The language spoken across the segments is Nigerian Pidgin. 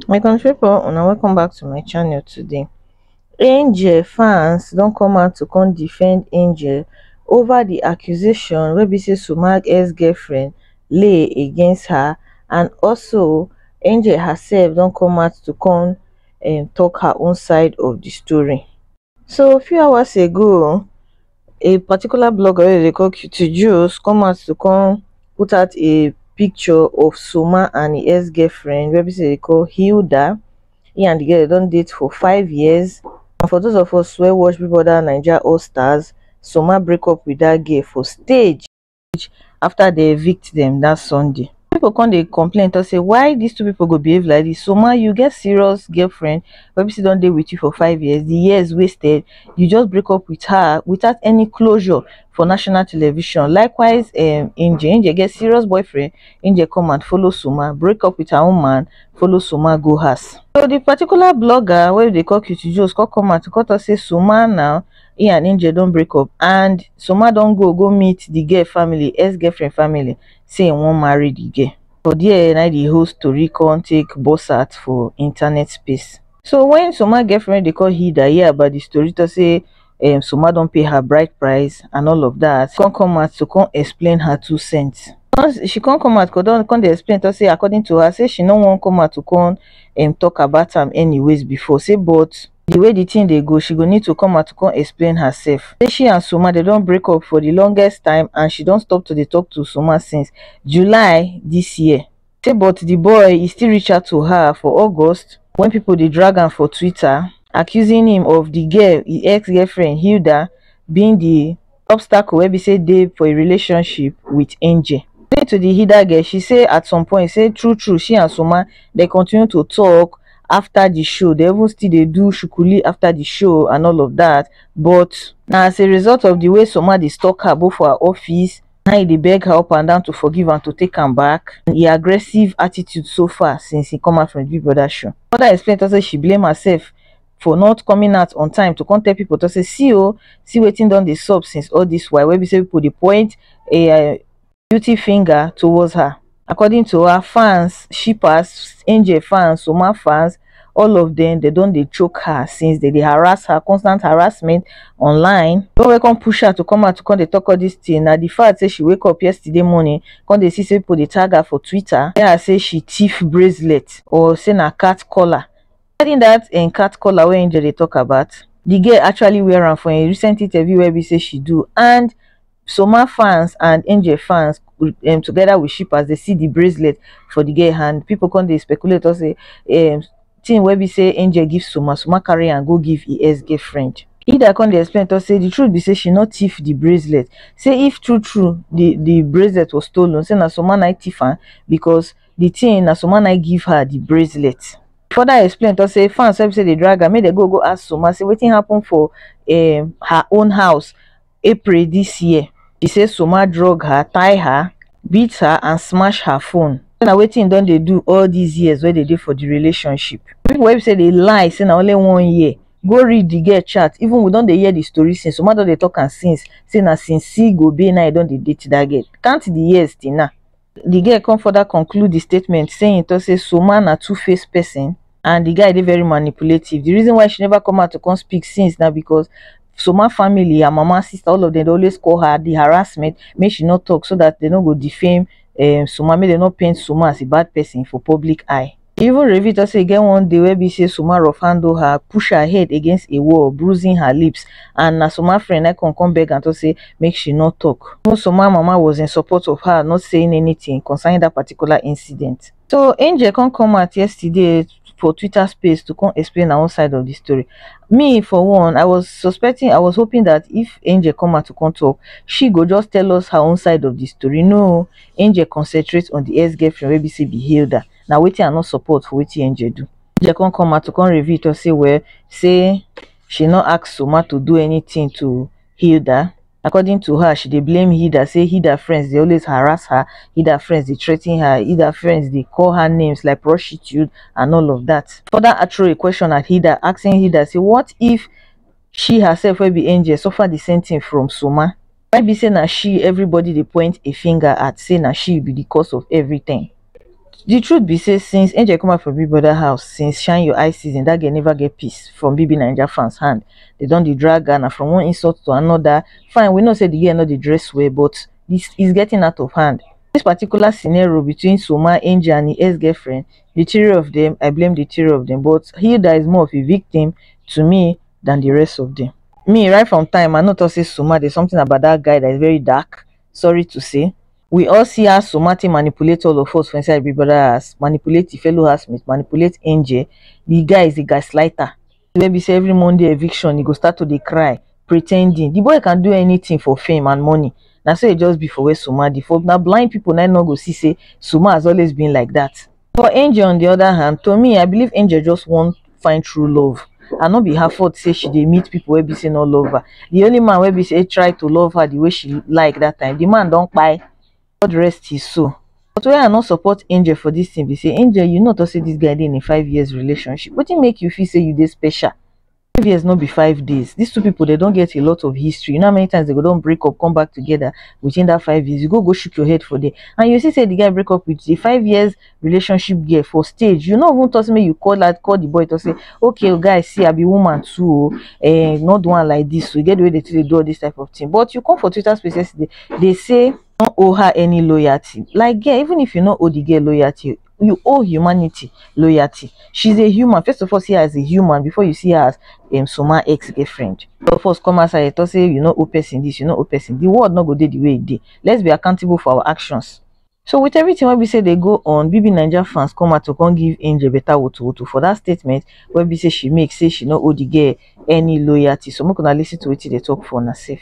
my country people una welcome back to my channel today angel fans don come out to come defend angel over the accusation wey be say sumag ex-girlfriend lay against her and also angel herself don come out to come um, talk her own side of the story So few hours ago, a particular blogger wey dey call Cutie Juice come out to come put out a picture of Soma and his ex-girlfriend wey be say they call Hilda. He and the girl they don date for five years. And for those of us wey watch Big Brother Naija All Stars, Soma break up with that girl for stage. village after dey evict dem that sunday people come dey complain talk say why this two people go behave like this Soma you get serious girlfriend wey be say don dey with you for five years the years wasted you just break up with her without any closure for national television likewise um Angel Angel get serious boyfriend Angel come and follow Soma break up with her own man follow Soma go house so the particular blogger wey we dey call Cutie Jones come come out come talk say Soma now he and angel don break up and soma don go go meet the girl family ex girlfriend family say he wan marry the girl for there na the whole story come take burst out for internet space so when soma girlfriend dey call hida hear about the story talk say um, soma don pay her bride price and all of that come come out to come explain her two cents once she come come out come come dey explain talk say according to her say she no wan come out to come um, talk about am anyways before say but the way the thing dey go she go need to come out to come explain herself say she and Soma dem don break up for the longest time and she don stop to dey talk to Soma since July this year say but the boy he still reach out to her for August when people dey drag am for Twitter accusing him of the girl his ex-girlfriend Hilda being the obstacle wey be say dey for a relationship wit Angel. According to di Hida girl, she say at some point say true true she and Soma dey continue to tok afta di show, dey even still dey do shukuli afta di show and all of dat but, na as a result of di way Soma dey stalk her both for her office na im e dey beg her up and down to forgive am to take am back and im aggressive attitude so far since im come out from di Big Brother show. She further explain tok say she blame herself. for not coming out on time to contact people to say see oh see waiting don the sub since all this while wey be say put the point a eh, beauty finger towards her according to her fans shippers angel fans soma fans all of them they don't they choke her since they, they harass her constant harassment online don welcome push her to come out to come they talk all this thing Now the fact say she wake up yesterday morning come they see say people dey tag her for twitter tell her say she thief bracelet or say na cat collar Regarding dat im cat collar wey Angel dey talk about, di girl actually wear am for im recent interview wey be say she do and Somaa fans and Angel fans um together with shippers dey see di bracelet for di girl hand. Pipo come dey speculate talk say um thing wey be say Angel give Somaa, Somaa carry am go give im ex-girlfriend. Hilda come dey explain talk say di truth be say she no thief di bracelet, say if true true di di bracelet was stolen say na Somaa na im thief am because di thing na Somaa na im give her di bracelet. further explain talk say fans wey be say dey drag am make dem go go ask Soma say wetin happen for um her own house April this year she say Soma drug her, tie her, beat her and smash her phone say na wetin he don dey do all these years wey dey dey for the relationship people wey be say dey lie say na only one year go read the girl chat even we don dey hear the story since Soma don dey talk am since say na since Gobe na him don dey date that girl count the years till now di girl come further conclude di statement say e tok say soomah na two face pesin and di guy dey very manipulative di reason why she neva come out to come speak since na becos soomah family her mama sister all of dem dey always call her di harassment make she no tok so dat dem no go defame um soomah make dem no paint soomah as a bad pesin for public eye E even reveal talk say e get one day wey be say Suma rough handle her, push her head against a wall, bruising her lips, and na Suma friend na come come beg am talk say make she no talk. Even Suma mama was in support of her not saying anything concerning that particular incident. So Angel come come out yesterday for Twitter space to come explain her own side of the story. Me for one, I was suspecting, I was hoping that if Angel come out to come talk, she go just tell us her own side of the story. No, Angel concentrate on the ex-girlfriend wey be say be Hilda. na wetin I no support for wetin Angel do. Angel come come out to come reveal talk say well say she no ask Soma to do anything to Hilda. According to her, she dey blame Hilda say Hilda friends dey always harass her, Hilda friends dey threaten her, Hilda friends dey call her names like prostitute and all of that. Further I throw a question at Hilda asking Hilda say what if she herself wey be Angel suffer the same thing from Soma? why be say na she everybody dey point a finger at say na she be the cause of everything the truth be say since angel come out from big brother house since shine your eye season that girl never get peace from bbnaija fans hand they don dey drag her na from one insult to another fine we know say the girl no dey dress well but this is getting out of hand this particular scenario between soma angel and im ex-girlfriend the three of them i blame the three of them but hilda is more of a victim to me than the rest of them. Me, right from time, I no talk say Suma, there's something about that guy that is very dark. Sorry to say. We all see how Suma take manipulate all of us for inside Big Brother house, manipulate the fellow housemates, manipulate Angel. The guy is a gaslighter. Wey be say every Monday eviction, he go start to dey cry, pretending. The boy can do anything for fame and money. Na so e just be for where Suma dey. For na blind people na im no go see say Suma has always been like that. For Angel on di oda hand, to me I believe Angel just wan find true love and no be her fault say she dey meet pipo wey be say no love her. Di only man wey be say try to love her di way she like dat time, di man don kpai, God rest his soul. But why I no support Angel for dis tin be say, Angel you no tok say dis guy dey in a five years relationship, wetin make you feel say you dey special? five years no be five days these two people they don't get a lot of history you know how many times they go don't break up come back together within that five years you go go shook your head for there and you see say the guy break up with the five years relationship girl for stage you know who toss me you call that call the boy to say okay oh, guys see i be woman too oh, eh, not doing like this so you get the way they, they do all this type of thing but you come for twitter spaces they, they say don't owe her any loyalty like yeah even if you not owe the girl loyalty you owe humanity loyalty she's a human first of all see her as a human before you see her as um, soma ex-girlfriend of us come outside and talk say you know owe person this you know owe person the world not go dey the way it dey let's be accountable for our actions so with everything wey be say they go on bb naija fans come out to come give angel better woto woto for that statement wey be say she make say she no owe the girl any loyalty so make una listen to wetin they talk for una sef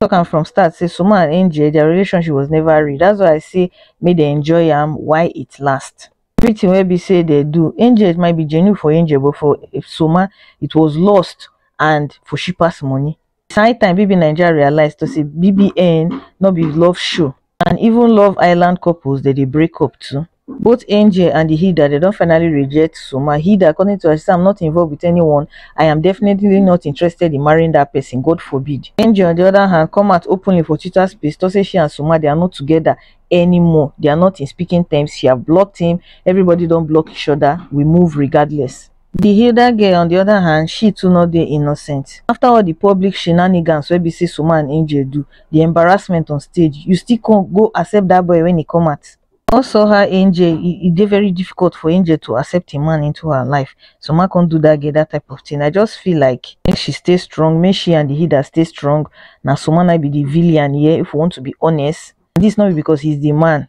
talk am from start say sumo and angel their relationship was never real that's why i say make dem enjoy am while it last everything wey be say they do angel it might be genuine for angel but for soma it was lost and for shippers money it's high time bbnaija realize to say bbn no be love show and even love island couples dem dey break up too both angel and hilda dem don finally reject soma hilda according to her she say i'm not involved with anyone i am definitely not interested in marrying that person god forbid angel on the other hand come out openly for twitter space to say she and soma they are not together anymore they are not in speaking terms she have blocked him everybody don block each other we move regardless Di Hilda girl on di oda hand, she too no dey innocent. Afta all di public shenanigans wey be say Soma and Angel do, di embarrassment on stage, you still come go accept dat boy wen e come out? Come saw her Angel, e e dey very difficult for Angel to accept a man into her life, Soma come do dat girl dat type of thing, I just feel like make she stay strong, make she and di Hilda stay strong, na Soma na im be di villian here if we want to be honest, and dis no be because he is di man.